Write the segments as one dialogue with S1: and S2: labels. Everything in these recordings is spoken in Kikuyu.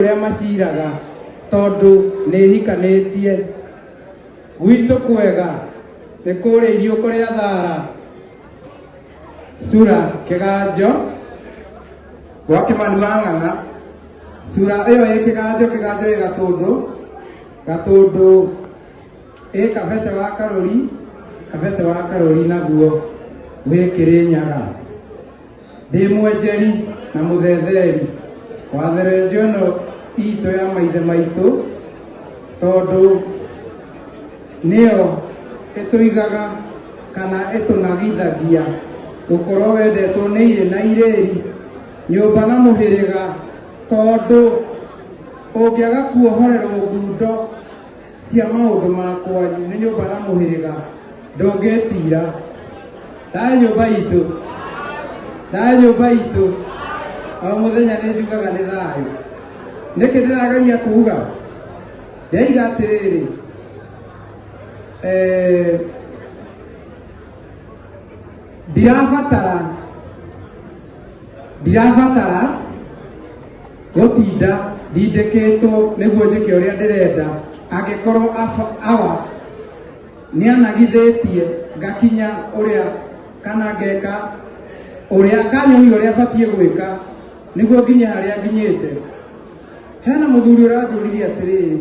S1: ũrĩa maciraga tondũ nĩhikanĩtie gwitũ kwega nĩ kũrĩa iriũko rĩa thara sura kĩganjo gwa kĩmani wa ng'ang'a sura ĩyo ĩ kĩganjo kĩganjo ĩ gatũndũ gatũndũ ĩ kabete wa karũri kabete wa karũri naguo wĩ kĩrĩnyaga ndĩ mwenjeri na mũthetheri wa therenjo ĩno itũ ya maithe maitũ tondũ nĩyo ĩtũigaga kana ĩtũnagithagia gũkorwo wendetwo nĩ irĩ na irĩri nyũmba na mũhĩrĩga tondũ ũngĩaga kuohorerwo ngundo Cia maũndũ ma kwanyu nĩ nyũmba na mũhĩrĩga ndũngĩtiira. Thayũ nyũmba itũ, thayũ nyũmba itũ, o mũthenya nĩ njugaga nĩ thayũ. Nĩkĩ ndĩrageria kuuga? Ndĩraiga atĩrĩrĩ, eh, ndirabatara ndirabatara Gũtinda ndindĩkĩtwo nĩguo njĩke ũrĩa ndĩrenda, angĩkorwo awa nĩanagithĩtie ngakinya ũrĩa kana ngeka ũrĩa kanyũi ũrĩa batiĩ gwĩka nĩguo nginye harĩa nginyĩte. Hena mũthuri ũranjũririe atĩrĩrĩ.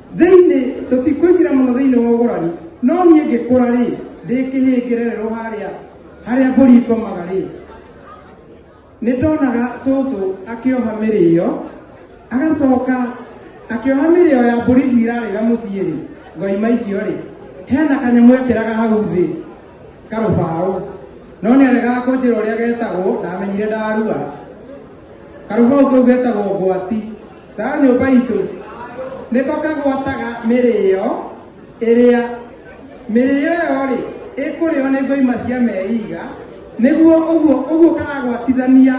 S1: Thĩinĩ, tũtikũingĩra mũno thĩinĩ wa ũgũrani, no niĩ ngĩkũra-rĩ, ndĩ kĩhĩngĩrererwo harĩa harĩa mbũri ikomaga-rĩ, nĩndonaga cũcũ akĩoha mĩrĩo, agacoka akĩoha mĩrĩo ya mbũri ici irarĩra mũciĩ-rĩ, ngoima icio-rĩ, hena kanyamũ ekĩraga hau thĩ, karũbaũ, no nĩaregaga kũnjĩra ũrĩa getagwo, ndamenyire ndarua. Karũbaũ kau getagwo ngwati. Thayũ nyũmba itũ nĩ ko kagwataga mĩrĩo ĩrĩa mĩrĩo ĩyo-rĩ ĩkũrĩo nĩ ngoima cia meiga nĩguo ũguo ũguo karagwatithania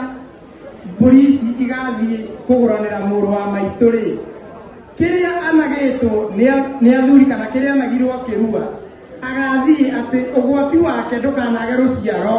S1: mbũri ici igathiĩ kũgũranĩra mũrũ wa maitũ-rĩ kĩrĩa anagĩtwo nĩ- nĩ athuri kana kĩrĩa anagirwo kĩrua agathiĩ atĩ ũgwati wake ndũkanage rũciaro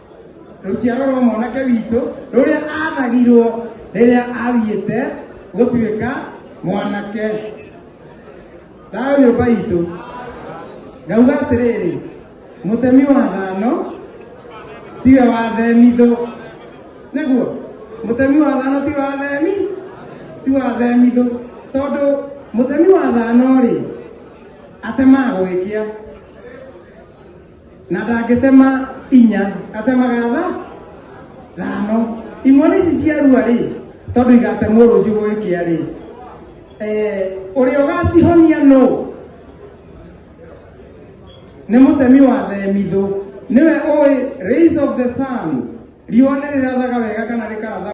S1: ruciaro rwa mwanake witũ rũrĩa athagirwo rĩrĩa athiĩte gũtuĩka mwanake thayũ nyũmba itũ ngauga atĩrĩrĩ mũtemi wa thano tiwe wathemithũ nĩguo mũtemi wa thano ti wathemi ti wathemithũ tondũ mũtemi wa thano rĩ atemaga gũgĩkĩa na ndangĩtema inya atemaga tha thano imwana ici ciarua rĩ tondũ igatemwo rũciũ gũgĩkĩa rĩ Eh, ũrĩa ũgacihonia nũ nĩ mũtemi wa themithũ nĩwe ũĩ rays of the sun riũa nĩ rĩrathaga wega kana rĩkaratha